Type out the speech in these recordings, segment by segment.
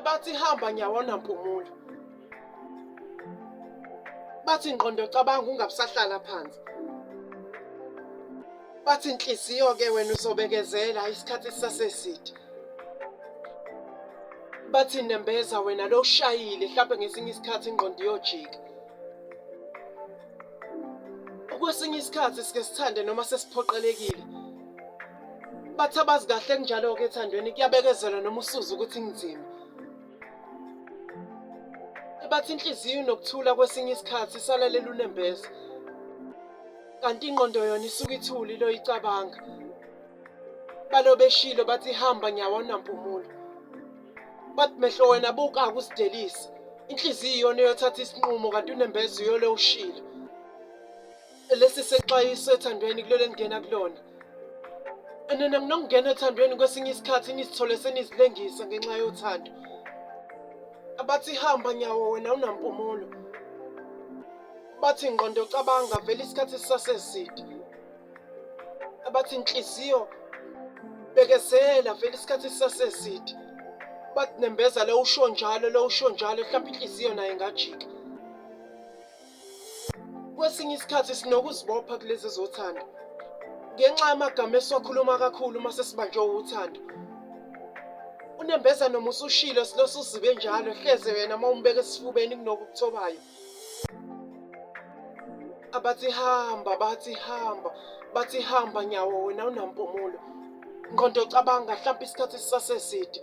bathi hamba nyawona mpumula bathi ngqondo cabanga ungabusahlala phansi bathi inhliziyo ke wena uzobekezela isikhathi sisaseside bathi nembeza wena lo ushayile mhlawumbe ngesinye isikhathi ingqondo iyojika kwesinye isikhathi sike sithande noma sesiphoqelekile Bathi abazi kahle kunjalo-ke ethandweni kuyabekezelwa noma usuze ukuthi kunzima. Bathi inhliziyo nokuthula kwesinye isikhathi isalalela unembeza. Kanti ingqondo yona isuke ithuli loyicabanga. Balo beshilo bathi ihamba nyawo awunampumulo. Bathi mehlo wena buka akusidelisi. Inhliziyo iyona eyothatha isinqumo kanti unembeza uyole ushilo. lesi sexwayiso ethandweni kulelo engena kulona nina nginokungena ethandweni kwesinye isikhathi nizithole senizilengisa ngenxa yothando abathi hamba nyawo wena unampumulo bathi ngqondo cabanga vele isikhathi sisaseside abathi inhliziyo bekezela vele isikhathi sisaseside bathi nembeza lo usho njalo lo usho njalo mhlawumbe inhliziyo naye ngajika Kwesinye isikhathi sinokuzibopha kulezi zothando ngenxa yamagama esiwakhuluma kakhulu uma sesibanjwe uthando. Unembeza noma usushilo silosu uzibe njalo hleze wena uma umbeke esifubeni kunokukuthobayo. Abathi hamba, bathi hamba, bathi hamba nyawo wena unampumulo. Ngqondo cabanga mhlawumbe isikhathi sisaseside.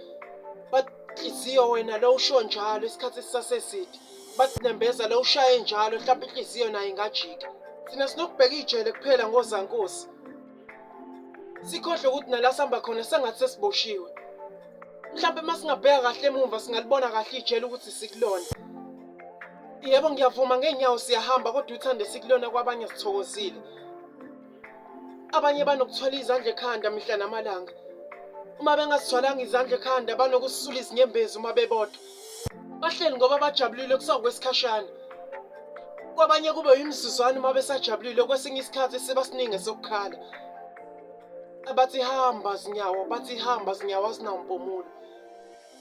But inhliziyo wena lo usho njalo isikhathi sisaseside. bathi nembeza lo ushaye njalo mhlawumbe inhliziyo nayo ingajika thina sinokubheka ijele kuphela ngozankosi sikhohle ukuthi nala sihamba khona sengathi sesiboshiwe mhlawumbe uma singabheka kahle emumva singalibona kahle ijele ukuthi sikulona yebo ngiyavuma ngeenyawo siyahamba kodwa uthande sikulona kwabanye sithokozile abanye banokuthwala izandla ekhanda mihla namalanga uma bengasithwalanga izandla ekhanda banokusisula izinyembezi uma bebodwa bahleli ngoba bajabulile kusawukwesikhashana kwabanye kube yimizuzwana uma besajabulile kwesinye isikhathi siba siningi sokukhala abathi hamba zinyawo bathi hamba zinyawo azinampumulo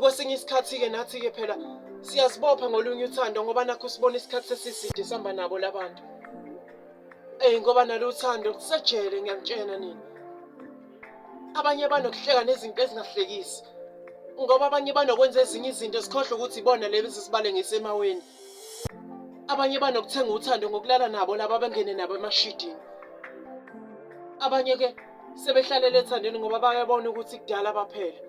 Kwesinye isikhathi-ke nathi-ke phela siyazibopha ngolunye uthando ngoba nakho sibona isikhathi sesiside sihamba nabo labantu eyi ngoba nalo uthando kusejele ngiyakutshena nina abanye banokuhleka nezinto ezingahlekisi ngoba abanye banokwenza ezinye izinto sikhohlwe ukuthi ibona lezi sibale ngisemaweni abanye banokuthenga uthando ngokulala nabo laba bengene nabo emashidini abanye-ke sebehlalele ethandweni ngoba bayabona ukuthi kudala baphela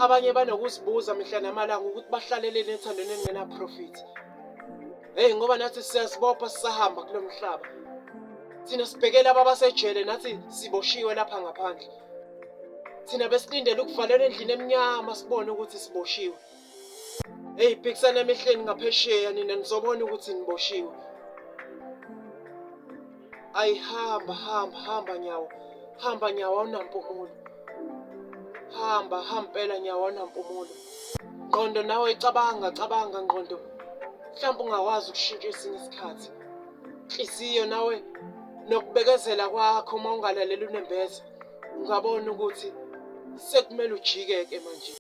abanye banokuzibuza mihla namalanga ukuthi bahlaleleni ethandweni elingenaprofiti heyi ngoba nathi siyazibopha sisahamba kulo mhlaba thina sibhekela ababasejele nathi siboshiwe lapha ngaphandle thina besilindele ukuvalelwa endlini emnyama sibone ukuthi siboshiwe Hey phikisana emehleni ngaphesheya nina nizobona ukuthi niboshiwe. Ayihamba hamba hamba nyawo. Hamba nyawo awunampumulo. Hamba hampela nyawo awunampumulo. Ngqondo nawe icabanga cabanga ngqondo. Mhlawumbe ungakwazi ukushintsha esinye isikhathi. Inhliziyo nawe nokubekezela kwakho uma ungalaleli unembeza ungabona ukuthi sekumele ujike-ke manje.